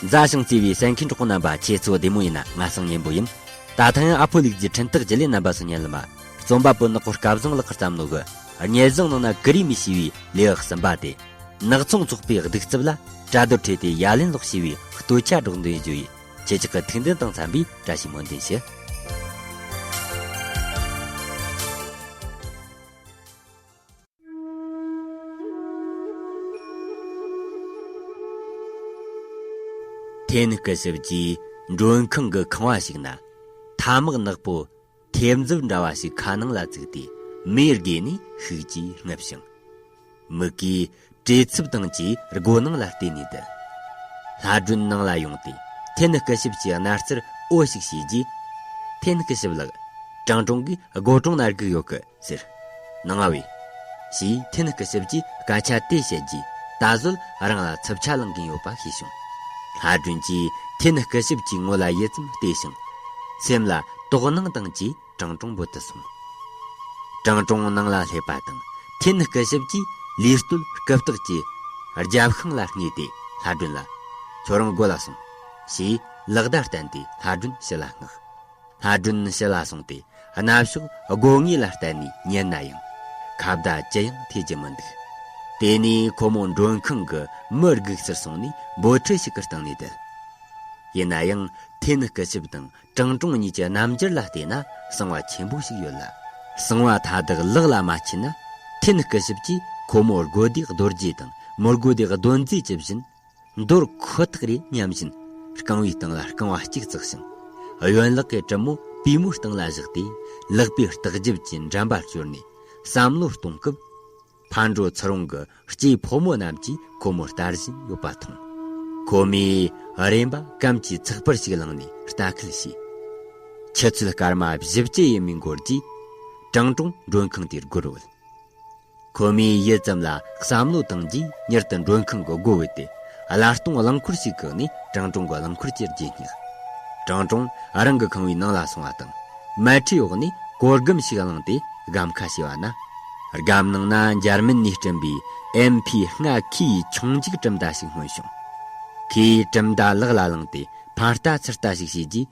མཛའ་ཞིང་བརྩེ་བའི་སེང་གེ་འབྲོག་པ་རྣམ་པ་ཁྱེད་ཚོ་བདེ་མོ་ཡིན་ན་ང་སང་ཉན་པོ་ཡིན། ད་ལྟ་ཡང་ཨ་ཕོ་ལིག་རྫིས་འཕྲིན་སྟེགས་བརྗིད་ལས་རྣམ་པ་སུ་ཉན་ལ་མ། རྩོམ་པ་པོ་ནག་པོ་སྐལ་བཟང་ལགས་ཀར་བརྩམས་ནོ་གི། སྙལ་བཟང་ནང་ན་ཀི་རིའི་མི་ཞེས་པའི་ལས་ཨག་ཟིན་པ་དེ། ནག་ཚོང་ཚོགས་པའི་སྡིག་རྩུབ་ལ་བཀྲ་རྡོར་ཁྲིད་དེ་ཡ་ལན་ལོག་ཞེས་པའི་བསྟོད་ཆ་སྒྲོག་འདོན་བརྗོད་ཡིན་ཁྱེད་ཅག་གི་ཐུགས་འདུན་དང་འཚམས་པའི་བཀྲ་ཤིས་སྨོན་འདུན་ཞུ། དེ་ནི་སྐུ་ཞབས་ཀྱིས་མགྲོན་ཁང་གི་ཁང་བ་ཞིག་ན་ཐ་མག་ནག་པོ་ཐེབས་མཛོད་འདྲ་བ་ཞིག་ཁ་ནང་ལ་བཙུགས་ཏེ་མེ་དགོས་ནས་ཤུགས་ཀྱིས་བསྔུབས་ཤིང། མིག་གིས་བྲེལ་འཚུབ་དང་བཅས་སྒོ་ནང་ལ་བལྟས་ནས་བསྡད། ལྷ་སྒྲོན་ནང་ལ་ཡོང་སྟེ་ཐེན་སྐུ་ཞབས་ཀྱི་རྣ་རྩར་ཨོ་ཞིག་བྱས་རྗེས། ཐེན་སྐུ་ཞབས་ལགས། ཀྲང་ཀྲོང་གིས་སྒོ་གྲོང་ན་སྒུག་ཡོད་སྐད། ཟེར། ནང་ང་བས། ཞེས་ཐན་སྐུ་ཞབས་ཀྱིས་སྐད་ཆ་དེ་བཤད་རྗེས་ད་གཟོད་རང་ལ་འཚུབ་ཆ་ལངས་གིན་ཡོད་པ་ཤེས་བྱུང། ལྷ་སྒྲོན་གྱིས་ཐན་སྐུ་ཞབས་ཀྱི་ངོ་ལ་ཡིད་ཙམ་བལྟས་ཤིང། སེམས་ལ་དོགས་སྣང་བཏང་རྗེས་ཀྲང་ཀྲུང་འབོད་དུ་སོང། ཀྲང་ཀྲུང་ནང་ལ་སླེབས་པ་དང་ཐན་སྐུ་ཞབས་ཀྱིས་ལུས་སྟོད་སྐུ་བརྟགས་ཀྱིས། རྒྱབ་ཤིང་ལ་བསྔས་ཏེ་ལྷ་སྒྲོན་ལ། ཁྱོད་རང་སྒོ་ལ་སོང། ཞེས་ལག་བརྡ་བསྟན་ཏེ་ལྷ་སྒྲོན་ཕྱི་ལ་བསྔགས། སྔ་དྲོན་ཕྱི་ལ་སོང་སྟེ་གནའ་ཕྱོགས་དགོས་ངེས་ལ་བརྟེན་ནས་ཉན་ན་ཡང། ཁ་བརྡ་ཅི་ཡང་ཐོས་ཀྱི་མི་འདུག། དེ་ནས་ཁོ་མོ་མགྲོན་ཁང་གི་མི་སྒུག་སར་སོང་ནས་འབོལ་ཁྲི་ཞིག་གི་སྟེང་ནས་བསྡད། ཡིན་ན་ཡང་དེ་ནི་སྐུ་ཞབས་དང་ཀྲང་ཀྲོང་གཉིས་ཀྱི་རྣམ་འགྱུར་ལ་བལྟས་ན་གསང་བ་ཆེན་པོ་ཞིག་ཡོད་ལ། གསང་བ་མཐའ་དག་ལག་ལ་མ་ཁྱེར་ན། དེ་ནི་སྐུ་ཞབས་ཀྱིས་ཁོ་མོར་དགོས་དུས་རྡོ་རྗེ་དང་མི་དགོས་དུས་གདོན་རྫས་ཀྱི་བཞིན། འདོར་ཁོ་ཐག་རེད་སྙམ་བཞིན། རྐང་བའི་སྟེང་ལ་རྐང་བ་གཅིག་བཙགས་ཤིང། གཡོན་ལག་གི་གྲིབ་མོ་པུས་མོའི་སྟེང་ལ་བཞག་སྟེ། ལག་པའི་ལྟག་རྒྱབ་ཀྱི་འགྲམ་པར་བསྐྱོར་ནས་བསམ་བློ་གཏོང་སྐབས། ཕར་འགྲོ་ཚུར་འོང་གི་སྐྱེས་ཕོ་མོ་རྣམས་ཀྱིས་ཁོ་མོ་ལྟ་བཞིན་ཡོད་པ་མཐོང། ཁོ་མོས་རེམ་པ་སྐམ་གྱི་ཚགས་པར་ཞིག་བླངས་ནས་ལྟ་སྐུལ་བྱས། ཆུ་ཚོད་སྐར་མ་བཞི་བཅུ་ཡས་མས་འགོར་རྗེས། གྲང་གྲོང་མགྲོན་ཁང་དེར་སྒུར་འོས། ཁོ་མོས་ཡུད་ཙམ་ལ་བསམ་བློ་བཏང་རྗེས་མྱུར་དུ་མགྲོན་ཁང་གི་སྒོ་བར་དེད། སླར་སྟོང་རླངས་འཁོར་ཞིག་བཀག་ནས་ཀྲང་ཀྲུང་གི་རླངས་འཁོར་གྱི་རྗེས་བསྙེགས། ཀྲང་ཀྲུང་རང་གི་ཁང་བའི་ནང་ལ་སོང་བ་དང། མལ་ཁྲིའི་འོག་ནས་གོ་སྒམ་ཞིག་བླངས་ཏེ་སྒམ་ཁ་ཕྱེ་བ་ན། སྒམ་ནང་ན་འཇར་མན་ནས་བཀྲམ་པའི་ཨེམ་ཕི་ལྔ་ཁའི་ཆུང་འཇིགས་གྲུབ་མདའ་ཞིག་མངོན་བྱུང། ཁོས་གྲུབ་མདའ་ལག་ལ་བླངས་ཏེ་ཕར་ལྟ་ཚུར་ལྟ་ཞིག་བྱས་རྗེས།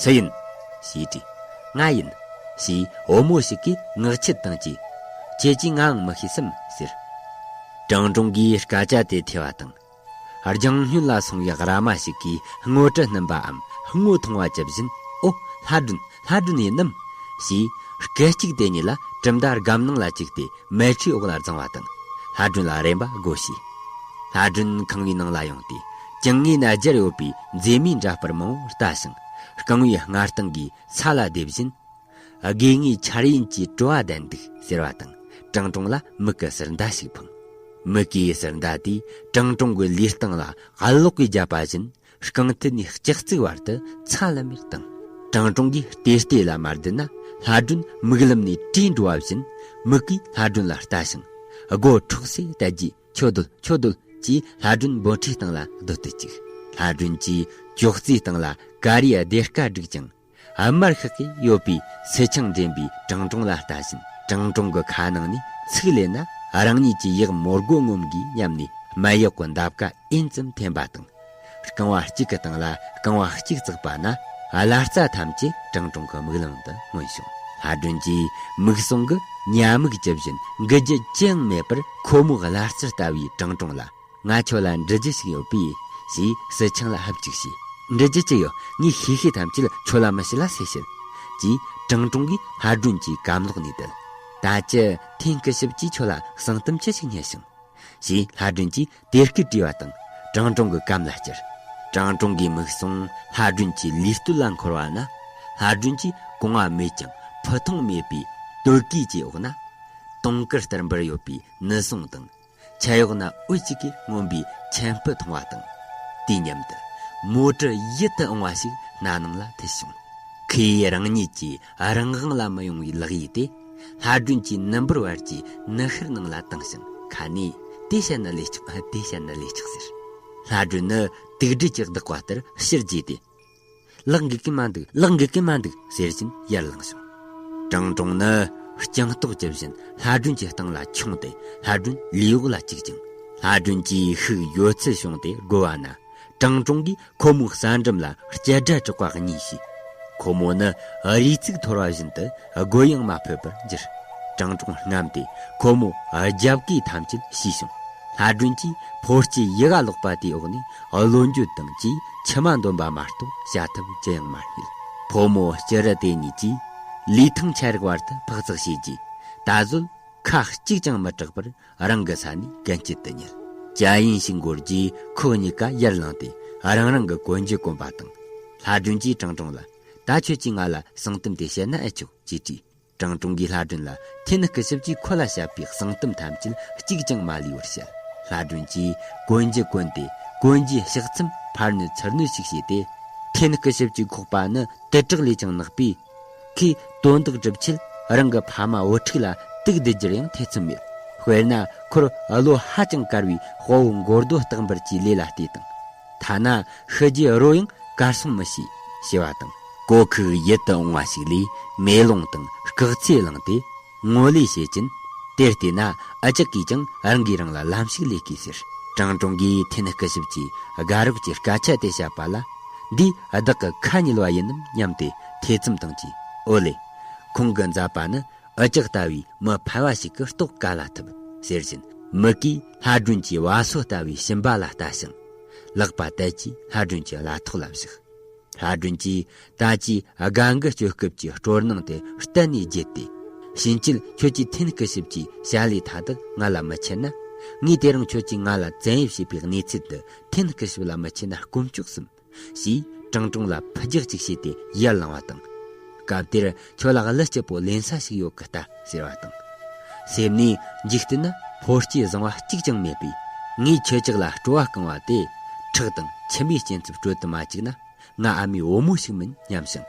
སུ་ཡིན། ཞེས་དྲིས། ང་ཡིན། ཞེས་བུ་མོ་ཞིག་གིས་ངག་འཁྱལ་བཏང་རྗེས། ཁྱེད་ཀྱིས་ངའང་མི་ཤེས་སམ་ཟེར། ཀྲང་ཀྲུང་གིས་སྐད་ཆ་དེ་ཐོས་པ་དང། རྒྱང་སྨྱོན་ལ་སོང་བའི་ར་མ་ཞིག་གིས་སྔོ་དྲི་བསྣུན་པའམ་སྔོ་ཐུང་བ་ཇི་བཞིན་ཨོ། ལྷ་སྒྲོན། ལྷ་སྒྲོན་ཡིན་ནམ། ཞེས་སྐད་ཅིག་དེ་གཉིས་ལ་གྲུབ་མཐའ་སྒམ་ནང་ལ་བཅུག་སྟེ་མལ་ཁྲིའི་འོག་ལ་བརྫངས་བ་དང། ལྷ་སྒྲོན་ལ་རེམ་པ་དགོས་ཞེས། ལྷ་སྒྲོན་ཁང་བའི་ནང་ལ་ཡོང་སྟེ་བྱིངས་ངའི་ན་རྒྱར་ཡོད་པའི་མཛེས་མའི་འདྲ་སྤར་མང་བོ་བལྟ་ཞིང། རྐང་བའི་སྔ་རྟིང་གིས་ཚ་ལ་རྡེབ་བཞིན། དགོས་ངེས་འཆར་ཡན་གྱི་སྤྲོ་བ་ལྡན་འདུག་ཟེར་བ་དང་ཀྲང་ཀྲུང་ལ་མིག་གི་ཟུར་མདའ་ཞིག་འཕངས། མིག་གི་ཟུར་མདའ་དེས་ཀྲང་ཀྲུང་གི་ལུས་སྟེང་ལ་གཡས་ལོགས་ཀྱིས་བརྒྱབ་པ་བཞིན་རྐང་མཐིལ་ནས་ལྕགས་རྩིག་བར་དུ་ཚ་ལམ་མེར་བཏང། ཀྲང་ཀྲུང་གིས་བལྟས་བལྟས་ལ་མ་བསྡད་ན་ལྷ་སྒྲོན་མིག་ལམ་ནས་བྲོས་འགྲོ་བ་བཞིན་མིག་གིས་ལྷ་སྒྲོན་ལ་ལྟ་ཞིང། སྒོ་འཕྲོག་སའི་ལྟད་རྒྱས་ཆོས་རྡོལ་ཆོས་རྡོལ་གྱིས་ལྷ་སྒྲོན་འབོད་ཁྲིའི་སྟེང་ལ་རྡོལ་དུ་བཅུག། ལྷ་སྒྲོན་གྱིས་ཅོག་ཙེའི་སྟེང་ལ་ཀ་རིའི་སྡེར་ཀ་བསྒྲིགས་ཀྱང། དམར་ཤོག་གིས་གཡོགས་པའི་སེ་ཆང་འདྲེན་པའི་གྲང་གྲོང་ལ་ལྟ་བཞིན་གྲང་གྲོང་གི་ཁ་ནང་ནས་ཚིག་བསླད་ན་རང་ཉིད་ཀྱི་ཡིག་མོར་སྒོ་ངོམ་དགོས་སྙམ་ནས་སྨད་གཡོག་གི་འདབ་ཀ་ཨེན་ཙམ་འཐེན་པ་དང། རྐང་བ་གཅིག་གི་སྟེང་ལ་རྐང་བ་གཅིག་བཙུགས་པ་ན། ལྷ་རྩ་ཐམས་ཅད་གྲང་དྲུང་གི་མིག་ལམ་དུ་མངོན་བྱུང། ལྷ་སྒྲོན་གྱིས་མིག་ཟུང་གི་ཉྭ་མིག་ཇི་བཞིན་འགུལ་རྒྱུ་ཅི་ཡང་མེད་པར་ཁོ་མོ་ལྷ་རྩེར་ལྟ་བའི་གྲང་དྲུང་ལ། ང་ཁྱོད་ལ་འདྲི་རྒྱུ་ཞིག་ཡོད་པས། ཞེས་སི་ཆིང་ལ་ཧབ་ཅིག་བྱས། འདྲི་རྒྱུ་ཅི་ཡོད་ངས་ཤེས་ཤེས་ཐམས་ཅད་ཁྱོད་ལ་མི་བཤད་ལ་ཟེར་ཤིག། ཅེས་གྲང་དྲུང་གིས་ལྷ་སྒྲོན་གྱི་སྐམ་ལག་ནས་བརྡལ། ད་ཅི་ཐེངས་སྐུ་ཞབས་ཀྱིས་ཁྱོད་ལ་གསང་གཏམ་ཅི་ཞིག་སྙན་ཞིང། ཞེས་ལྷ་སྒྲོན་གྱིས་དེ་སྐད་དྲིས་པ་དང་གྲང་གྲོང་གི་སྐམ་ལ་བསྐྱུར། གྲང་གྲོང་གིས་མིག་ཟུང་ལྷ་སྒྲོན་གྱི་ལུས་སྟོད་ལ་འཁོར་བ་ན། ལྷ་སྒྲོན་གྱིས་གོང་བ་མེད་ཀྱང་ཕུ་མཐོང་མེད་པའི་སྟོད་གོས་ཀྱི་འོག་ན། དུང་དཀར་ལྟར་འབར་ཡོད་པའི་ནི་ཟུང་དང། ཁྱད་གཡོག་ན་འོད་གཅིག་གིས་མངོན་པའི་ཁྱད་སྤུ་མཐོང་བ་དང། དུས་མཉམ་དུ། མོ་དྲུ་ཡིད་དུ་འོང་བ་ཞིག་སྣ་ནང་ལ་འཐིལ་བྱུང། ཁོས་རང་ཉིད་ཀྱི་རང་དབང་ལ་མི་ཡོང་བའི་ལག་གཡས་དེ། ལྷ་སྒྲོན་གྱིས་ནུ་འབུར་བར་གྱི་ནུ་ཤུར་ནང་ལ་བཏིང་ཞིང་ཁ་ནས། དེ་བྱས་ན་ལས་ཆོག་དེ་བྱས་ན་ལས་ཆོག་ཟེར། ལྷ་སྒྲོན་ནི་དུག་སྦྲུལ་གྱི་བདག་པ་ལྟར་ཕྱིར་རྒྱུས་ཏེ། ལག་འགུལ་གིན་མ་འདུག་ལག་འགུལ་གིན་མ་འདུག་ཟེར་བཞིན་ཡར་ལངས་བྱུང། ཀྲང་ཀྲོང་ནི་རྐྱང་ལྟོགས་ཀྱི་བཞིན་ལྷ་སྒྲོན་གྱི་སྟེང་ལ་འཁྱུང་སྟེ་ལྷ་སྒྲོན་ལུས་འོག་ལ་བཅུག་ཅིང། ལྷ་སྒྲོན་གྱིས་ཤུགས་ཡོད་ཚད་བྱུང་སྟེ་སྒུར་བ་ན། ཀྲང་ཀྲོང་གིས་ཁོ་མོའི་རྩ་འགྲམ་ལ་སྐྱི་སྒྲ་གྲག་པ་གཉིས་ཤིག། ཁོ་མོ་ནི་རུས་ཚིགས་འཐོར་བ་བཞིན་དུ་རྒོལ་ཡང་མ་ཕོད་པར་གྱུར། སྤྲང་སྤྲུང་རྔམ་དེས་ཁོ་མོ་རྒྱབ་ཀའི་ཐམས་ཅད་ཤི་ཞིང། ལྷ་སྒྲོན་གྱིས་ཕོ་སྐྱེས་ཡི་ག་ལོག་པ་དེའི་འོག་ནས་བློ་འགྱོད་དང་བཅས་མཆི་མ་འདོན་པ་མ་གཏོགས་བྱ་ཐབས་ཅི་ཡང་མ་རྙེད། ཕོ་མོ་སྐྱི་རུ་དེ་གཉིས་ཀྱིས་ལུས་ཐང་ཆད་རིགས་བར་དུ་འཕག་འཚག་བྱས་རྗེས། ད་གཟོད་ཁ་གཅིག་ཀྱང་མི་གྲག་པར་རང་གི་ས་ནས་གན་སྐྱིད་དུ་ཉལ། བཅའ་ཡིན་ཞིག་འགོར་རྗེས་ཁོ་གཉིས་ཀ་ཡར་ལངས་ཏེ་རང་རང་གི་གོན་རྒྱུ་གོན་པ་དང། ལྷ་སྒྲོན་གྱིས་ཀྲང་ཀྲུང་ལ། ད་ཁྱོད་ཀྱིས་ང་ལ་གསང་གཏམ་དེ་བཤད་ན་ཨེ་ཆོག་ཅེས་དྲིས། ཀྲང་ཀྲུང་གིས་ལྷ་སྒྲོན་ལ་ཐེ་ནི་སྐུ་ཞབས་ཀྱིས་ཁོ་ལ་བཤད་པའི་གསང་གཏམ་ཐམས་ཅད་གཅིག་ཀྱང་མ་ལུས་པར་བཤད། ལྷ་སྒྲོན་གྱིས་གོན་རྒྱུ་གོན་ཏེ་གོན་རྒྱུའི་ཕྱག་མཚམས་ཕར་བསྣོལ་ཚུར་བསྣོལ་ཞིག་བྱས་ཏེ། ཐེ་ནི་སྐུ་ཞབས་ཀྱི་ཁོག་པ་ནི་དུད་དྲག་ལས་ཀྱང་ནག་པས། ཁོས་དོན་དག་སྒྲུབ་ཆེད་རང་གི་ཕ་མ་བུ་ཕྲུག་ལ་དུག་འདི་རྒྱུར་ཡང་ཐེ་ཚོམ་ཡོད། དཔེར་ན་ཁོར་བློ་ཧ་ཅང་དཀར་བའི་དཔའ་བོ་མགོ་རྡོ་སྟག་འབར་གྱི་ལས་ལ་བལྟས་དང། ཐ་ན་ཤི་རྗེས་རོ་ཡང་གར་སོང་མི་ཤེས་ཞེས་པ་དང། གོ་ཁུག་ཡིད་དུ་འོང་བ་ཞིག་ལས་མེ་ལོང་དང་སྐག་ཚེ་བླངས་ཏེ། ངོ་ལས་བྱེད་ཀྱིན། དེར་བལྟས་ན་ཨ་ཅག་གིས་ཀྱང་རང་གིས་རང་ལ་ལམ་ཞིག་ལས་དགོས་ཟེར། ཀྲང་ཀྲུང་གིས་འཐེན་སྐུ་ཞིབ་ཀྱིས་དགའ་རོགས་ཀྱི་སྐད་ཆ་དེ་བཤད་པ་ལ། འདིས་བདག་གི་ཁ་ཉིལ་བ་ཡིན་ནམ་སྙམ་སྟེ་ཐེ་ཚོམ་བཏང་རྗེས་ཨོ་ལེ། ཁོང་གི་མཛའ་པ་ནི་ཨ་ཅག་ལྟ་བུའི་མི་ཕལ་བ་ཞིག་གི་རྟོགས་ག་ལ་ཐུབ། ཟེར་བཞིན་མིག་གིས་ལྷ་སྒྲོན་གྱི་བ་སོ་ལྟ་བུའི་བྱིན་པ་ལ་ལྟ་ཞིང། ལག་པ་དལ་གྱིས་ལྷ་སྒྲོན་གྱི་ལ་ཐོག་ལ་བཞག། ལྷ་སྒྲོན་གྱིས་ད་ཅིའི་དགའ་འགུལ་སྤྱོད་སྐབས་ཀྱི་སྤྲོ་སྣང་དེ་གཏན་ནས་བརྗེད་དེ། ཕྱིན་ཆད་ཁྱོད་ཀྱིས་འཐེན་སྐུ་ཞིབ་ཀྱི་བྱ་ལས་མཐའ་དག་ང་ལ་མི་འཆད་ན། ངས་དེ་རིང་ཁྱོད་ཀྱིས་ང་ལ་བཙན་གཡེམ་བྱས་པའི་གནས་ཚུལ་དུ་འཐེན་སྐུ་ཞིབ་ལ་མི་འཆད་ན་སྐུམ་ཅོག་གསུམ། ཞེས་ཀྲང་ཀྲུང་ལ་ཕུ་རྒྱག་ཅིག་བྱས་ཏེ་ཡར་ལངས་བ་དང། སྐབས་དེར་ཁྱོད་ལ་གླུ་སྐྱིད་པོ་ལེན་ས་ཞིག་ཡོད་གི་ལྟ་ཟེར་བ་དང། སེམས་ནས་འཇིག་རྟེན་ན་ཕོ་སྐྱེས་བཟང་བ་གཅིག་ཀྱང་མེད་པས་ངས་ཁྱོད་ཅག་ལ་སྤྲོ་བ་བསྐང་བ་དེ་ཁྲག་དང་མཆིན་པའི་སྐྱེན་ཚབ་སྤྲོད་དུ་མ་བཅུག་ན་ང་ཨ་མའི་བུ་མོ་ཞིག་མིན་སྙམ་ཞིང།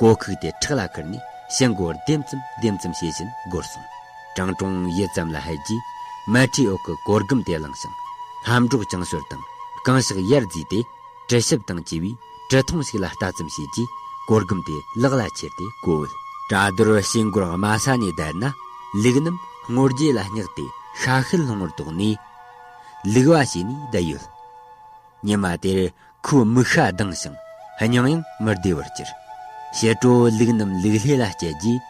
གོ་ཁུག་དེ་ཁྲག་ལ་ཁུར་ནས་ཤི་འགོར་ལྡེམ་ཙམ་ལྡེམ་ཙམ་བྱེད་བཞིན་སྒོར་སོང། ཀྲང་ཀྲུང་ཡིད་ཙམ་ལ་ཧད་རྗེས་མལ་ཁྲིའི་འོག་གི་གོ་སྒམ་དེ་བླངས་ཤིང། ལྷམ་སྒྲོག་ཅང་ཤོར་དང་རྐང་ཤག་ཡར་བརྫིས་ཏེ། དྲི་ཞིབ་དང་བཅས་པའི་དྲི་མཐོང་ཞིག་ལ་ལྟ་ཙམ་བྱས་རྗེས་གོ་སྒམ་དེ་ལག་ལ་ཁྱེར་ཏེ་གོ་བོད། བཀྲ་རྡོར་ཞེས་མགུར་དམའ་ས་ནས་བརྡལ་ན་ལུག་རྣམས་སྔོ་རྗེས་ལ་བསྙགས་ཏེ་ཤ་ཤེད་ལྷུང་བར་དོགས་ནས། ལུག་བ་བྱས་ནས་བསྡད་ཡོད། ཉི་མ་དེར་ཁོའི་མིག་ཤ་གདངས་ཤིང་སྙིང་ཡང་མི་བདེ་བར་གྱུར། ཕྱི་དྲོ་ལུག་རྣམས་ལུག་ལྷས་ལ་བསྐྱལ་རྗེས་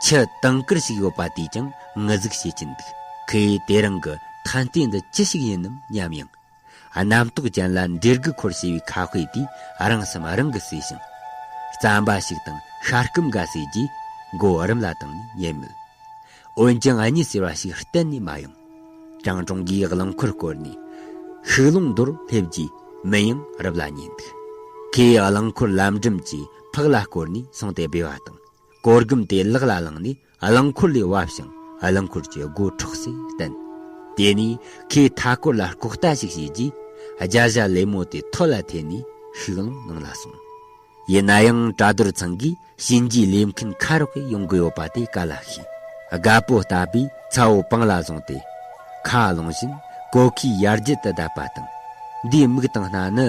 ཁྱི་དང་དཀར་ཞིག་ཡོད་པ་དེས་ཀྱང་ངུ་ཟུག་བྱེད་ཀྱིན་འདུག་གིས་དེ་རང་གི་ཐན་ལྟས་འདི་ཅི་ཞིག་ཡིན་ནམ་སྙམ་ཡང། རྣམ་རྟོག་ཅན་ལ་འདྲེ་རྒུད་འཁོར་ཞེས་པའི་ཁ་དཔེ་དེས་རང་བསམ་རང་གིས་བསྲེས་ཤིང། རྩམ་པ་ཞིག་དང་ཤ་སྐམ་འགའ་བསྲེས་རྗེས་མགོ་བོ་རུམ་ལ་བཏང་ནས་ཉལ་མོད། འོན་ཀྱང་གཉིད་སེར་བ་ཞིག་གཏན་ནས་མ་ཡོང། ཀྲང་ཀྲུང་གིས་རླངས་འཁོར་བསྐོར་ནས་ཤུགས་ལོང་མདོར་སླེབས་རྗེས་མི་ཡང་རབ་ལ་ཉལ་འདུག་ཁོས་རླངས་འཁོར་ལམ་འགྲམ་གྱི་ཕག་ལ་བསྐོར་ནས་སོང་སྟེ་སྦས་པ་དང་གོ་རྒུམ་དེ་ལག་ལ་བླངས་ནས་རླངས་འཁོར་ལས་བབས་ཤིང་རླངས་འཁོར་གྱི་སྒོ་འཕྲོག་སའི་སྟེང། དེ་ནས་ཁོས་མཐའ་སྐོར་ལ་ལྐོག་ལྟ་ཞིག་བྱས་རྗེས། སྦྱར་བྱ་ལེབ་མོ་དེ་ཐོད་ལ་ཐེ་ནས་ཤུགས་རླངས་ནང་ལ་སོང། ཡིན་ན་ཡང་གྲ་རྡོར་ཚང་གིས་གཤིན་རྗེའི་ལས་མཁན་ཁ་རོག་གེར་ཡོང་གི་ཡོད་པ་དེ་ག་ལ་ཤེས། རྒ་པོ་ལྟ་བུས་ཚ་བོ་པང་ལ་བཟུང་སྟེ། ཁ་རླུང་བཞིན་གོ་ཁའི་ཡར་རྒྱུད་དུ་བསྡད་པ་དང། འདིའི་མིག་དང་སྣ་ནི།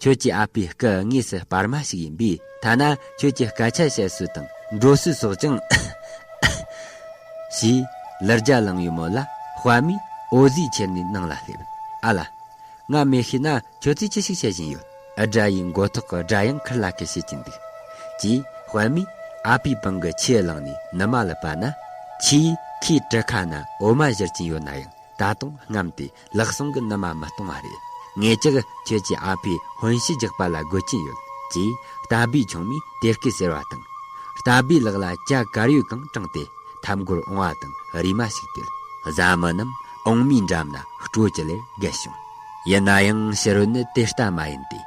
ཁྱོད་ཀྱི་ཨ་ཕའི་སྐུ་དངོས་སུ་སྤར་མ་ཞིག་ཡིན་པས་ཐ་ན་ཁྱོད་ཀྱི་སྐད་ཆ་བཤད་སྲོལ་དང་འགྲོ་སྲོལ་སོགས་ཀྱང། ཞེས་ལར་རྒྱ་གླིང་ཡུལ་མོ་ལ་དཔའ་མོས་འོ་བཟོས་ཁྱེར་ནས་ནང་ལ་སླེབས། ཨ་ལ། ང་མེད་ཤེས་ན་ཁྱོད་ཚོས་ཅི་ཞིག་བྱེད་བཞིན་ཡོད། སྦྲ་ཡི་མགོ་ཐོག་གི་སྦྲ་གཡང་འཁུར་ལ་ཁད་བྱེད་ཀྱིན་འདུག། ཅེས་དཔའ་མོས་ཨ་ཕའི་པང་གི་ཆས་བླངས་ནས་ནུ་མ་ལ་བབས་ན། ཁྱེད་ཀྱིས་ཁོའི་གྲུ་ཁ་ན་འོ་མ་བཞུར་གྱིན་ཡོད་ན་ཡང་ད་དུང་རྔམས་ཏེ་ལག་ཟུང་གི་ནུ་མ་མི་གཏོང་བ་རེད། ངེད་ཅག་ཁྱེད་ཀྱི་ཨ་ཕའི་དཔོན་གཞི་རྒྱག་པ་ལ་དགོས་ཀྱིན་ཡོད། ཅེས་རྟ་སྦིས་ཆུང་མས་དེ་སྐད་ཟེར་བ་དང། རྟ་སྦིས་ལག་ལ་ལྕགས་དཀར་ཡོལ་གང་དྲངས་ཏེ་འཐབ་མགོར་འོང་བ་དང་རིས་མ་ཞིག་དེད། བཟའ་མི་རྣམས་འོང་མིའི་འགྲམ་ན་སྤྲོ་གྱི་ལེར་བརྒལ་བྱུང། ཡིན་ན་ཡང་ཕྱི་རོལ་ནི་དེ་ལྟ་མ་ཡིན་ཏེ།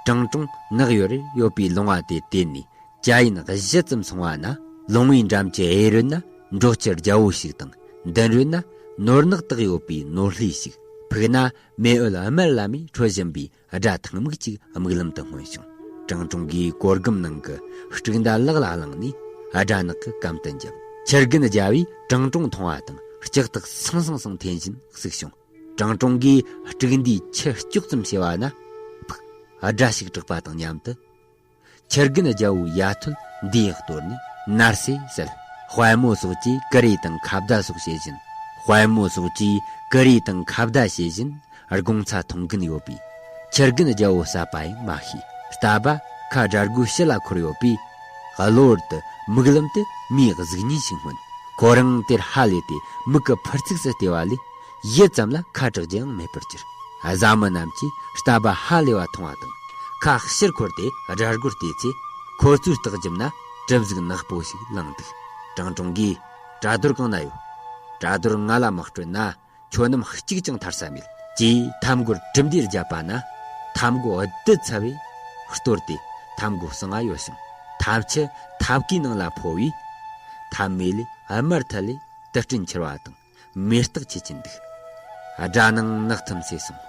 ཀྲང་ཀྲུང་ནགས་ཡོལ་རེར་ཡོད་པའི་ལུང་བ་དེ་དེད་ནས་བྱ་ཡི་ནགས་བཞི་ཙམ་སོང་བ་ན་ལུང་བའི་འགྲམ་གྱི་གཡས་རོལ་ན་འབྲོག་ཁྱི་རྒྱལ་བོ་ཞིག་དང་མདུན་རོལ་ན་ནོར་ནག་དག་ཡོད་པའི་ནོར་ལྷའི་ཞིག་ཕུག་ན་མེ་ཨུལ་དམར་བླ་མའི་འཕྲོད་བཞིན་པའི་སྒྲ་ཐང་མིག་ཅིག་རྨིག་ལམ་དུ་མངོན་བྱུང། ཀྲང་ཀྲུང་གིས་གོར་སྒམ་ནང་གི་སྤྲུག་མདའ་ལག་ལ་བླངས་ནས་སྦྲ་ནག་གི་གམ་དུ་འཇབ། ཕྱི་རྒན་རྒྱལ་བོས་ཀྲང་ཀྲུང་མཐོང་བ་དང་ལྕགས་ཐག་སང་སང་སང་འཐེན་བཞིན་གཟིགས་བྱུང། ཀྲང་ཀྲུང་གིས་སྤྲུག་མདའི་ཁྱི་སྐྱོག་ཙམ་བྱས་པ་ན། ཕུག། སྒྲ་ཞིག་གྲགས་པ་དང་མཉམ་དུ། ཁྱི་རྒན་རྒྱལ་པོའི་ཡ་ཐོད་འདི་ཡག་གཏོར་ནས་ནར་སོས་ཟེར། དཔལ་མོ་སོགས་ཀྱིས་ཀི་རི་དང་ཁ་བརྡ་སོགས་བྱེད་བཞིན། དཔལ་མོ་སོགས་ཀྱིས་ཀི་རི་དང་ཁ་བརྡ་བྱེད་བཞིན་སྒོང་ཚ་འཐུང་གིན་ཡོད་པས། ཁྱི་རྒན་རྒྱལ་པོ་གསད་པ་ཡང་མ་ཤེས་སྟབས་པ་ཁ་སྦྲ་སྒོའི་ཕྱི་ལ་འཁོར་ཡོད་པས། གློར་དུ་མིག་ལམ་དུ་མིའི་གཟུགས་བརྙན་ཞིག་མངོན། ཁོ་རང་དེར་ཧ་ལས་ཏེ་མིག་གི་འཕུར་ཚུགས་སུ་བལྟས་པ་ལས། བཞི་ཙམ་ལ་ཁ་དྲག་རྒྱུའང་མེད་པར་གྱུར། བཟའ་མི་རྣམས་ཀྱིས་རྟ་བབས་ཧ་ལས་པ་མཐོང་བ་དང། ཁ་ཕྱིར་འཁོར་ཏེ་སྦྲ་སྒོར་བལྟས་ཚེ། ཁོ་བཙུར་སྟག་འཇིབ་ན་གྲིབ་གཟུགས་ནག་པོ་ཞིག་བླངས་འདུག་ཀྲང་ཀྲུང་གིས། བྲ་རྡོར་གང་ན་ཡོད། བྲ་རྡོར་ང་ལ་མི་སྤྲོད་ན། ཁྱོད་རྣམས་གཅིག་ཀྱང་ཐར་ས་མེད། ཅེས་འཐབ་མགོར་གྲིབ་འདེད་བརྒྱབ་པ་ན། འཐབ་མགོ་བདུད་ཚ་བས་གཏོར་ཏེ་འཐབ་མགོ་གསང་བ་གཡོ་ཞིང་འཐབ་ཆུ་འཐབ་ཀའི་ནང་ལ་འཕོ་བས། འཐབ་མེ་ལས་དམར་ཐལ་ལེ་དུ་སྤྲིན་འཁྱིལ་བ་དང། མེ་སྟག་ཁྱེད་ཀྱི་འདུག། དགྲ་ནང་ནག་ཐིམ་ཚེ་སོང།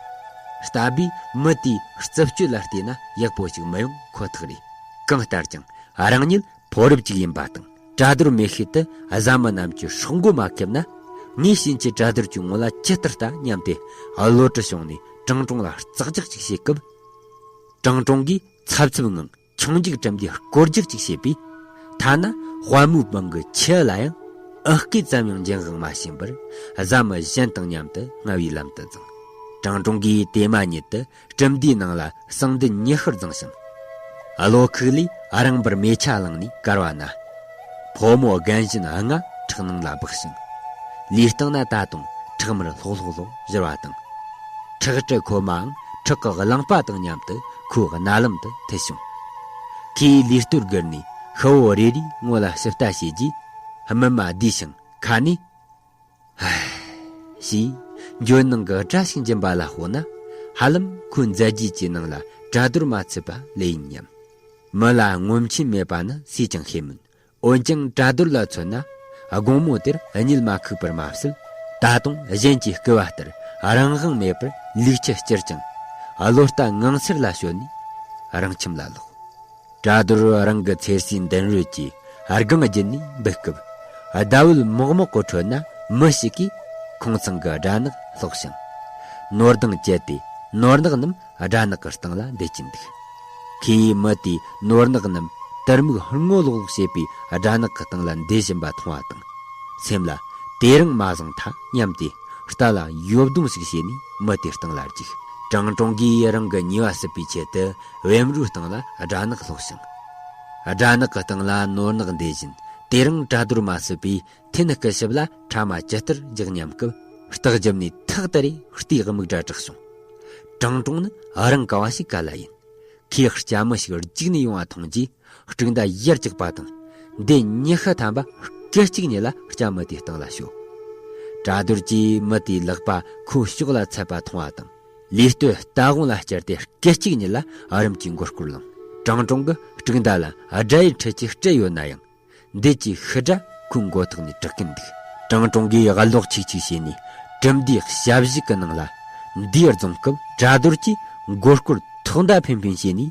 རྟ་བུས་མི་དེའི་རྩུབ་སྤྱོད་ལ་བལྟས་ན་ཡག་པོ་ཞིག་མི་ཡོང་ཁོ་ཐག་རེད། གང་ལྟར་ཀྱང་རང་ཉིད་ཕོ་རབ་ཅིག་ཡིན་པ་དང་གྲ་རྡོར་མེ་ཤེལ་དུ་བཟའ་མི་རྣམས་ཀྱི་ཧྲོག་མགོ་མ་ཁེབས་ན། ངའི་བྱིན་གྱིས་གྲ་རྡོར་གྱི་ངོ་ལ་ཇི་ལྟར་ལྟ་སྙམ་སྟེ་གློ་གྲི་བྱུང་ནས་ཀྲང་ཀྲོང་ལ་ཙག་ཙག་ཅིག་བྱེད་སྐབས། ཀྲང་ཀྲོང་གིས་ཚབ་ཚུབ་ངང། ཆུང་འཇིགས་བྲམ་གྱི་དཀོར་རྒྱག་ཅིག་བྱེད་པས། ཐ་ན་དཔའ་མོའི་པང་གི་ཁྱི་ལ་ཡང་ཨི་སྐད་ཙམ་ཡང་འགྱིང་ཧང་མ་བྱིན་པར་བཟའ་མི་གཞན་དང་མཉམ་དུ་རྔ་བའི་ལམ་དུ་བརྫངས། གྲང་གྲོང་གིས་དེ་མ་ཉིད་དུ་གྲུབ་མཐའི་ནང་ལ་གསང་འདི་ཉི་ཤུར་བརྫངས་ཤིང། བློ་ཁུག་ལས་རང་འབར་མེ་ཆ་བླངས་ནས་བཀར་བ་ན། ཕོ་མོ་རྒན་གཞོན་ལྔ་ཁྲག་ནང་ལ་སྦགས་ཤིང། ལུས་སྟེང་ན་ད་དུང་ཁྲག་མར་ལྷོག་ལྷོག་ལྷོག་གཞིར་བ་དང། ཁྲག་དྲི་ཁོལ་མའང་ཁྲག་གི་རླངས་པ་དང་མཉམ་དུ་ཁོའི་རྣ་ལམ་དུ་འཐུལ་བྱུང། ཁོས་ལུས་སྟོད་བསྒུར་ནས་ཤ་བོ་རེ་རེའི་སྔོ་ལ་ཞིབ་ལྟ་བྱས་རྗེས། སྨིན་མ་བསྡུས་ཤིང་ཁ་ནས། ཞེས་ཇོ་ནང་གི་བཀྲ་ཤིས་འབྱིན་པ་ལ་དཔོག་ན་ཧ་ལམ་ཁོའི་མཛད་རྗེས་ཀྱི་ནང་ལ་གྲ་རྡོར་མ་ཚུད་པ་ལོས་ཡིན་སྙམ། མི་ལ་ངོམ་ཆེན་མེད་པ་ནི་སུས་ཀྱང་ཤེས་མོད། འོན་ཀྱང་གྲ་རྡོར་ལ་མཚོན་ན་དགོང་མོ་དེར་གཉིད་མ་ཁུག་པར་མ་ཟད་ད་དུང་གཞན་གྱི་སྐུལ་བ་ལྟར་རང་དབང་མེད་པར་ལུས་ཁྱི་བསྐྱུར་ཅིང་བློ་རྟ་ངང་ཚེར་ལ་ཞོན་ནས་རང་ཁྱིམ་ལ་ལོག། བྲག་རྡོར་རང་གི་ཚེ་སྲིག་མདུན་རོལ་གྱི་སྒང་བརྒྱུད་ནས་འབུད་སྐབས། ཟླ་འོད་མོག་མོག་གི་ཁྲོད་ན་མི་ཞིག་གིས་ཁང་ཚང་གི་སྦྲ་ནག་བསློགས་ཤིང། ནོར་དང་བཅས་ཏེ་ནོར་ནག་རྣམས་སྦྲ་ནག་གི་སྟེང་ལ་འདེད་ཀྱིན་འདུག་ཁོས་མི་དེས་ནོར་ནག་རྣམས་དུར་སྨུག་སྔོ་ལོག་ལོག་བྱེད་པའི་སྦྲ་ནག་གི་སྟེང་ལ་འདེད་བཞིན་པ་མཐོང་བ་དང། སེམས་ལ་དེ་རིང་མ་བཟང་ཐ་སྙམ་སྟེ་རྟ་ལ་ཡོབ་རྡུང་ཞིག་བྱས་ནས་མི་དེའི་སྟེང་ལ་འཇུག། ཀྲང་ཀྲོང་གིས་རང་གི་ཉེས་པ་སེལ་བའི་ཆེད་དུ་བེམ་རོའི་སྟེང་ལ་སྦྲ་ནག་ལྷོག་ཞིང། སྦྲ་ནག་གི་སྟེང་ལ་ནོར་ནག་འདེད་བཞིན་དེ་རིང་བྲ་རྡོར་མ་བསོད་པའི་ཐན་སྐུ་ཞབས་ལ་ཕྲ་མ་ཇི་ལྟར་རྒྱག་སྙམ་སྐབས། རྟགས་བརྒྱབ་ནས་ཐག་དེ་རེ་ལྟོས་དམིགས་སྒྲ་གྲགས་བྱུང། དྲང་དྲུང་ནི་རང་ག་བ་ཞིག་ག་ལ་ཡིན། ཁོས་སྐྱ་མི་ཞིག་རྒྱུགས་ནས་ཡོང་བ་མཐོང་རྗེས་སྤྲུག་མདའ་གཡར་རྒྱག་པ་དང། འདི་ཉི་ཤུ་ཐམ་པ་སྐད་གཅིག་ཉིད་ལ་སྐྱ་མི་དེའི་སྟེང་ལ་བྱོལ། བྲ་རྡོར་གྱིས་མི་དེའི་ལག་པ་ཁོའི་ཕྱོགས་ལ་ཚད་པ་མཐོང་བ་དང། ལུས་སྟོད་རྟ་དགོང་ལ་བསྐྱལ་ཏེ་སྐད་ཅིག་ཉིད་ལ་རིམ་གྱིས་མགོ་སྐོར་ལངས། དྲང་དྲུང་གི་སྤྲུག་མདའ་ལ་དགྲ་ཡི་འཕྲུལ་གྱིས་སྤྲད་ཡོད་ན་ཡང། འདས་ཀྱི་ཤི་དགྲ་ཁོའི་མགོ་ཐོག་ནས་དྲག་གིན་འདུག་དྲང་དྲུང་གིས་གློག་ཆིག་ཆིག་བྱས་ནས་གྲུབ་མདའི་ཞབས་བཞུགས་ཀྱི་ནང་ལ་མདའི་རྫོང་སྐབས་དགྲ་རྡོར་གྱིས་མགོ་སྐོར་ཐོག་མདའ་འཕེན་འཕེན་བྱས་ནས།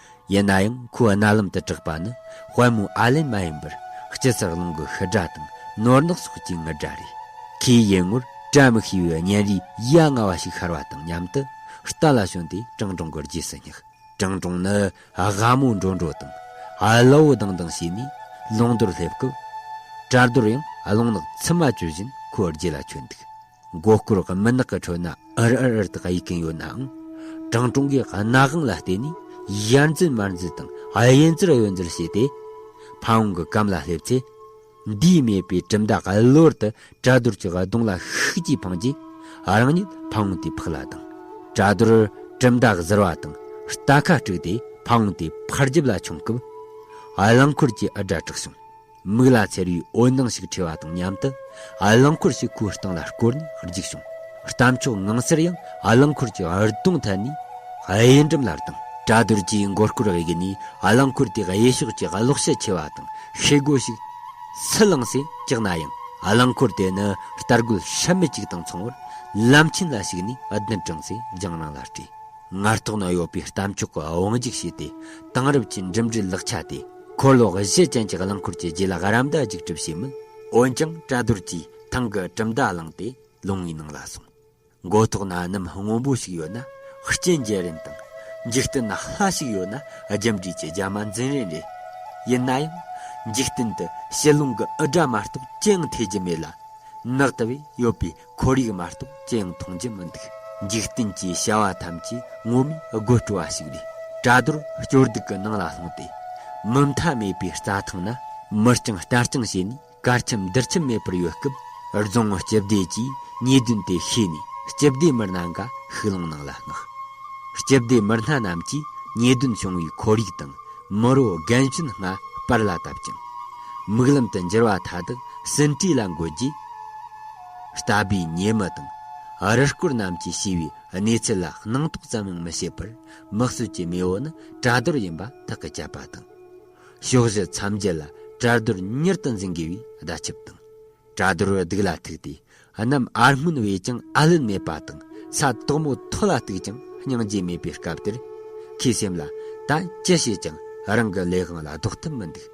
ཡིན་ན་ཡང་ཁོའི་རྣ་ལམ་དུ་གྲགས་པ་ནི་དཔལ་མོའི་ཨ་ལན་མ་ཡིན་པར་སྤྱི་ཚགས་རླུང་གི་ཤི་སྒྲ་དང་ནོར་གནག་སོགས་ཀྱི་ངུ་སྒྲ་རེད། ཁོས་ཡིད་ངོར་བཀྲ་མི་ཤིས་པའི་གཉེན་རིའི་ཡ་ང་བ་ཞིག་ཤར་བ་དང་མཉམ་དུ་རྟ་ལ་ཞོན་ཏེ་ཀྲང་ཀྲུང་གི་རྗེས་སུ་བསྙེགས། ཀྲང་ཀྲུང་ནི་སྒ་མོ་འགྲོ་འགྲོ་དང་གློ་བོ་ལྡང་ལྡང་བྱས་ནས་རླུང་རྡོར་སླེབས་སྐབས། བྲག་རྡོར་ཡང་རླུང་ནག་ཚིམ་མ་གྱོན་བཞིན་ཁོའི་རྗེས་ལ་ཁྱོད་འདུག། མགོ་སྐོར་གྱི་མུན་ནག་གི་ཁྲོད་ན་ཨུར་ཨུར་ཨུར་དུ་གཡུག་གིན་ཡོད་ནའང། ཀྲང་ཀྲུང་གིས་སྣ་དབང་ལ་བལྟས་ནས་ཡར་འཛུལ་མར་འཛུལ་དང་གཡུལ་འཛུལ་གཡུལ་འཛུལ་བྱས་ཏེ། ཕ་བོང་གི་སྐམ་ལ་སླེབས་ཚེ། འདུས་མེད་པའི་གྲིབ་མདའ་གཡུལ་འོར་དུ་བྲ་རྡོར་གྱི་གདོང་ལ་ཤུགས་ཀྱིས་འཕངས་རྗེས། རང་ཉིད་ཕ་བོང་དེའི་ཕག་ལ་ལྡང། བྲ་རྡོར་གྲིབ་མདའ་གཟིར་བ་དང་རྟ་ཁ་དཀྲུགས་ཏེ་ཕ་བོང་དེའི་ཕར་རྒྱབ་ལ་མཆོངས་སྐབས། རླངས་འཁོར་གྱི་འུར་སྒྲ་གྲགས་བྱུང། མིག་ལ་ཚེར་བའི་འོད་སྣང་ཞིག་འཕྲོས་པ་དང་མཉམ་དུ། རླངས་འཁོར་ཞིག་ཁོའི་སྟེང་ལ་བསྐོར་ནས་འཇིགས་བྱུང། གཏམ་མཆོག་ངང་སེར་ཡང་རླངས་འཁོར་གྱི་འུར་གདོང་ཐད་ནས་གཡས་འགྲམ་ལ་ལྡང། བཀྲ་རྡོར་གྱིས་མགོ་སྐོར་བའི་གེགས་ནི་རླངས་འཁོར་དེ་གཡས་ཕྱོགས་ཀྱི་གློག་ཤལ་ཆེ་བ་དང་ཤེལ་སྒོ་ཞིག་སུ་བསླངས་སའི་གེགས་ན་ཡང་རླངས་འཁོར་དེ་ནི་ལྟར་རྒོལ་ཤ་མེད་ཅིག་དང་མཚུངས་པར་ལམ་ཆེན་ལ་ཞུགས་ནས་གདུན་དྲངས་སའི་རྒྱང་རིང་ལ་བྲོས། ངར་ཐོག་ན་ཡོད་པའི་གཏམ་མཆོག་གི་དབང་འཇུག་བྱས་ཏེ་དེང་རབས་ཀྱི་འགྲིམ་འགྲུལ་ལག་ཆ་དེ། འཁོར་ལོ་བཞི་ཅན་གྱི་རླངས་འཁོར་གྱི་རྗེས་ལ་ཧ་རམ་ཟླ་འཇིགས་གྲུབ་བྱས་མོད། འོན་ཀྱང་བཀྲ་རྡོར་གྱིས་ཐང་གི་གྲུབ་མཐའ་བླངས་ཏེ་ལུང་བའི་ནང་ལ་སོང། མགོ་ཐོག་ན་གནམ་སྔོན་པོ་ཞིག་ཡོད་ན་སྐྱེས་འགྱེད་རན་དང། འཇིག་རྟེན་ན་ལྷ་ཞིག་ཡོད་ན་རྒྱུ་འབྲས་ཀྱི་རྒྱ་མ་འཛིན་རན་རེད། ཡིན་ན་ཡང། འཇིག་རྟེན་དུ་དཔྱིད་རླུང་གི་འུར་སྒྲ་མ་གཏོགས་ཅི་ཡང་ཐོས་རྒྱུ་མེད་ལ། ནགས་དེ་བས་ཡོད་པའི་ཁོར་ཡུག་མ་གཏོགས་ཅི་ཡང་མཐོང་རྒྱུ་མི་འདུག་འཇིག་རྟེན་གྱི་བྱ་བ་ཐམས་ཅད་དངོས་མིན་དགོད་བྲོ་བ་ཞིག་རེད། བྲ་རྡོར་སྐྱོར་སྡུག་གི་ནང་ལ་ལྷུང་སྟེ། མུ་མཐའ་མེད་པའི་རྩྭ་ཐང་ན་མི་རྐྱང་སྤྲ་རྐྱང་བྱས་ནས་དཀར་ཁྱིམ་རྡུལ་ཁྱིམ་མེད་པར་ཡོད་སྐབས། རྫོང་སྤྱི་བདེ་ཅུས་ཉེས་དོན་དེ་ཤེས་ནས་སྤྱི་བདེ་མི་སྣ་འགའ་ཤུགས་ལངས་ནང་ལ་མངགས། སྤྱི་བདེ་མི་སྣ་རྣམས་ཀྱིས་ཉེས་དོན་བྱུང་བའི་ཁོར་ཡུག་དང་མི་རོ་རྒན་གཞོན་སྔ་དཔར་ལ་བཏབ་ཅིང། མིག་ལམ་དུ་འགྱུར་བ་མཐའ་དག་ཟིན་བྲིས་ལ་འགོད་རྗེས། ལྟ་བུའི་ཉེས་མི་དང། རུལ་སྐོར་རྣམས་ཀྱིས་ཤི་བའི་གནས་ཚུལ་ལ་སྣང་དོགས་ཙམ་ཡང་མི་བྱེད་པར་དམིགས་བསལ་གྱི་མེས་བོ་ནི་གྲལ་རྡོར་ཡིན་པ་ཐག་གིས་བཅད་པ་དང། ཕྱོགས་བཞི་མཚམས་བརྒྱད་ལ་གྲལ་རྡོར་གཉེར་དུ་འཛིན་དགོས་པའི་བརྡ་ཁྱབ་དང། གྲལ་རྡོར་སྡུག་ལ་ཐུག་སྟེ་གནམ་ཨར་སྔོན་བས་ཀྱང་ཨར་ལན་མེད་པ་དང་ས་དོག་མོ་མཐོ་ལ་བཏུག་ཀྱང་སྙིང་རྗེ་མེད་པའི་སྐབས་དེར། ཁོའི་སེམས་ལ་ད་ཅི་བྱས་ཀྱང་རང་གི་ལས་དབང་ལ་ལྡོག་ཐབས་མི་འདུག།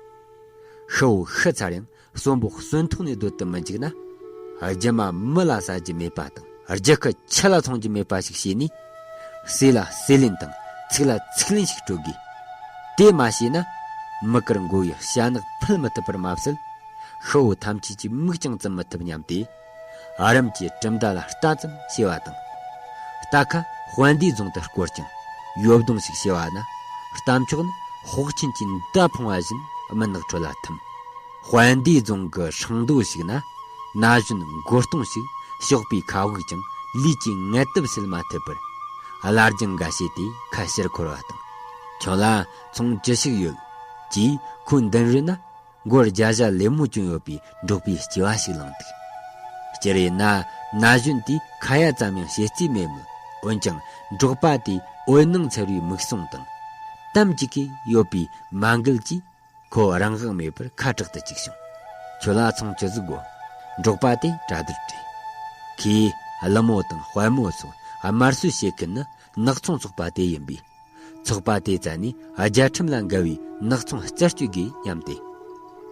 ཤི་བོ་ཤི་ཚར་ཡང་གསོན་པོ་གསོན་ཐུང་ནས་སྡོད་དུ་མི་འཇུག་ན། རྒྱུ་མ་མི་ལ་ཟ་རྒྱུ་མེད་པ་དང་རྒྱུ་ཁུ་ཁྱི་ལ་འཚོང་རྒྱུ་མེད་པ་ཞིག་བྱས་ནས། ཟས་ལ་ཟས་ལེན་དང་ཚིག་ལ་ཚིག་ལེན་ཞིག་སྤྲོད་དགོས། དེ་མ་བྱས་ན། མི་དཀར་མགོ་ཡི་ཤ་ནག་འཕུལ་མི་ཐུབ་པར་མ་ཟད། ཤི་བོ་ཐམས་ཅད་ཀྱི་མིག་ཀྱང་བཙུམ་མི་ཐུབ་སྙམ་སྟེ། ཨ་རམ་གྱི་གྲུབ་མཐའ་ལ་ལྟ་ཙམ་ཤེས་པ་དང། རྟ་ཁ་དཔལ་ལྡན་རྫོང་དུ་བསྐོར་ཅིང་ཡོབ་གདོང་ཞིག་ཤེས་པ་ན་གཏམ་ཕྱོགས་ནི་ཧོག་ཆེན་གྱི་མདའ་འཕང་བ་བཞིན་མི་ནག་ཁྲོད་ལ་ཐིམ། དཔལ་ལྡན་རྫོང་གི་ཧྲང་རྡོ་ཞིག་ན་ན་གཞོན་མགོ་སྟོང་ཞིག་ཞོགས་པའི་ཁ་དབུགས་ཀྱང་ལུས་ཀྱི་ངལ་དུབ་སེལ་མ་ཐུབ་པར། སླར་གྱི་འགའ་ཤས་དེ་ཁ་ཕྱིར་འཁོར་བ་དང། ཁྱོད་ལ་ཚོང་ཅི་ཞིག་ཡོད། ཅེས་ཁོའི་མདུན་རོལ་ན། སྒོར་བརྒྱ་བཞག་ལེབ་མོ་གྱོན་ཡོད་པའི་འབྲོག་པའི་སྐྱེ་བ་ཞིག་བླངས་འདུག་སྤྱིར་ཡིན་ན་ན་གཞོན་དེས་ཁ་ཡ་ཙམ་ཡང་བྱེད་རྩིས་མེད་མོད་འོན་ཀྱང་འབྲོག་པ་དེའི་འོད་སྣང་འཚེར་བའི་མིག་ཟུང་དང། གཏམ་གཅིག་གིས་གཡོས་པའི་མ་མགུལ་གྱིས་ཁོ་རང་དབང་མེད་པར་ཁ་དྲག་ཏུ་བཅུག་བྱུང། ཁྱོད་ལ་ཚང་ཅི་ཟིག་དགོས། འབྲོག་པ་དེས་གྲ་སྡུར་དྲན། ཁོས་ཀླུ་མོ་དང་དཔལ་མོ་སོགས་དམར་གསོད་བྱེད་མཁན་ནི་ནག་ཚོང་ཚོགས་པ་དེ་ཡིན་པས། ཚོགས་པ་དེའི་རྩ་ནས་རྒྱལ་ཁྲིམས་ལ་འགལ་བའི་ནག་ཚོང་བསྐྱར་བཅོས་དགོས་སྙམ་སྟེ།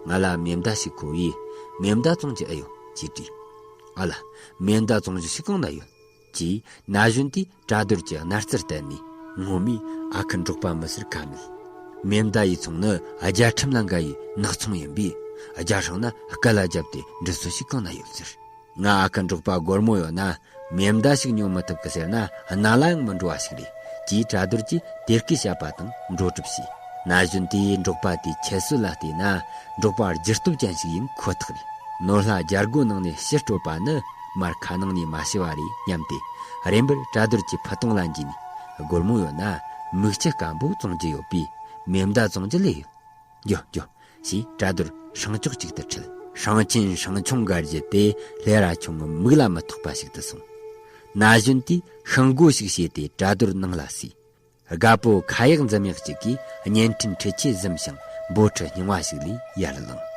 ང་ལ་མེ་མདའ་ཞིག་མཁོ་བས་མེ་མདའ་བཙོང་རྒྱུ་ཨེ་ཡོད་ཅེས་དྲིས། ཨ་ལ། མེ་མདའ་བཙོང་རྒྱུ་ཞིག་གང་ན་ཡོད། ཅེས་ན་གཞོན་དེས་བཀྲ་རྡོར་གྱི་རྣ་རྩར་བལྟས་ནས་ངོ་མས་ཨ་ཁུ་འབྲོག་པ་མི་ཟེར་ག་མེད། མེ་མདའ་ཡི་ཚོང་ནི་རྒྱལ་ཁྲིམས་ལ་འགལ་བའི་ནག་ཚོང་ཡིན་པས། རྒྱལ་སྲུང་ན་སྐུ་ལ་བརྒྱབ་སྟེ་འགྲུལ་བསུ་ཞིག་གང་ན་ཡོད་ཟེར། ང་ཨ་ཁ་འབྲོག་པ་སྒོར་མོ་ཡོད་ན་མེ་མདའ་ཞིག་ཉོ་མི་ཐུབ་གི་ཟེར་ན་རྣ་ལ་ཡང་མི་འགྲོ་བ་ཞིག་རེད་ཅེས་གྲ་སྡུར་གྱིས་དེ་སྐད་བཤད་པ་དང་འགྲོ་གྲབས་བྱས། ན་གཞོན་དེས་འབྲོག་པ་དེའི་ཁྱད་གསོད་ལ་བལྟས་ན་འབྲོག་པ་རྒྱུ་སྟོབས་ཅན་ཞིག་ཡིན་ཁོ་ཐག་རེད། ནོར་ལྷ་རྒྱལ་སྒོ་ནང་ནས་ཕྱིར་བྲོས་པ་ནི་མར་ཁ་ནང་ནས་མ་ཤི་བ་རེད་སྙམ་སྟེ་རེམ་པར་གྲ་སྡུར་གྱིས་ཕུ་ཐུང་ལ་འཇུས་ནས་སྒོར་མོ་ཡོད་ན་མིག་ལྕི་སྐམ་པོ་བཙོང་རྒྱུ་ཡོད་པས་མེ་མདའ་བཙོང་རྒྱུ་ལས་ཡོད། རྒྱུ། ཞེས་བཀྲ་རྡོར་ཧྲང་ཅོག་ཅིག་ཏུ་ཁྲིད། ཧྲང་ཆེན་ཧྲང་ཆུང་སྒར་གྱི་དེ་ལྷའི་རྭ་ཆུང་ངམ་མིག་ལ་མི་ཐོགས་པ་ཞིག་ཏུ་སོང། ན་གཞོན་དེས་ཤིང་སྒོ་ཞིག་བྱས་ཏེ་བཀྲ་རྡོར་ནང་ལ་བསུས། དགའ་པོ་ཁ་ཡག་འཛུམ་ཡག་ཅིག་གིས་བརྙན་འཕྲིན་འཕྲུལ་ཆས་བཟུམ་ཞིང་འབོར་ཁྲི་རྙིང་བ་ཞིག་ལས་ཡར་བླངས།